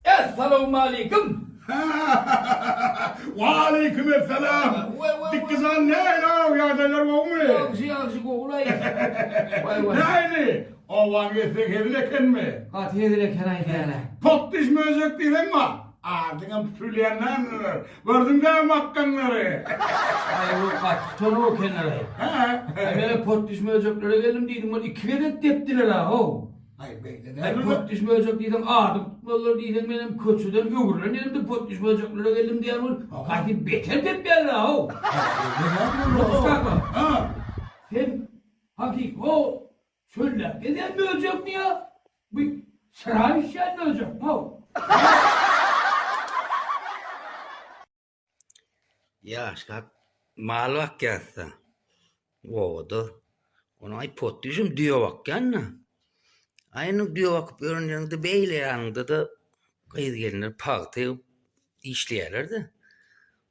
Essalawmaleýkim! Hahahahaha! Waleýkim essalam! Dikizan nähili-ow, ýagdaýlar gowumy? Ýagşy, ýagşy, gow-laý. Nähili? Owaň etse hezil ekenmi? Gaty hezil eken-aý däl-ä. Potdyş möjek diýseň bar. Adyňam tutulýan däldir. Gördüň-dä makgaňlary. Aý, ol gaty tutan-ow ekenler-aý. Hä? Aý, men-ä potdyş möjeklere geldim diýdim, ol iki gezek depdiler-ä-ow. Aý potdiş böjek diýseň adymy tutmalylar diýseň menem köçeden öwrülen ýerimde potdiş böjeklere geldim diýýän bolup gaty beter depýärler how. Potdiş kaka. Hä. Sen hakyky o çölläp gezýän böjekmi ýa bu çyra düşýän böjekmi how. Ýaşap mal bakýasda obada. Onuň aý potdyşym düýe bakýanda. Aýynyň düýe bakyp ýörenlerinde beýle ýanynda-da gyz gelinler pagta egip işleýärler-de.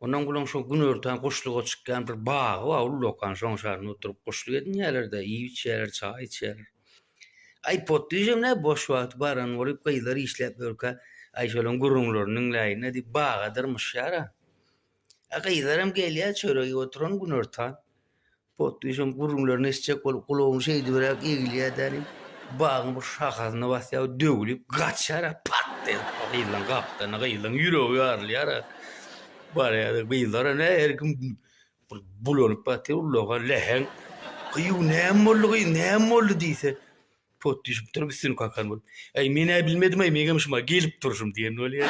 Ondan gulaň şu günortan guşluga çykýan bir bagy bar, ullakan şoň şarynda oturyp guşluk edinýärler-de, iýip içýärler, çaý içýärler. Aý potdyjam nä boş wagty baran bolyp gyzlar işläp ýörkä aý şolaň gürrüňlerini diňläýin nä diýip baga dyrmyşýar a. A gyzaram gelýär çörek iýip oturan günortan. Potdyjam gürrüňlerini eşitjek bolup gulagyny şeýdibiräk egilýär dänim bagyň bir şahasyna basýar we döwlüp gaçýar a pat diýen gyzlaň gapdalyna gyzlaň ýüregi ýarylýar a. Barýar gyzlara nä her kim Ol bulanyp ýatyr, ulaga läheň Gyýw, näme boldy, gyýw, näme boldy diýse, pot düşüp durup, üstüni kakan bolup, Äý, men-ä bilmedim-aý, meňem şuma gelip durşum diýen bolýar.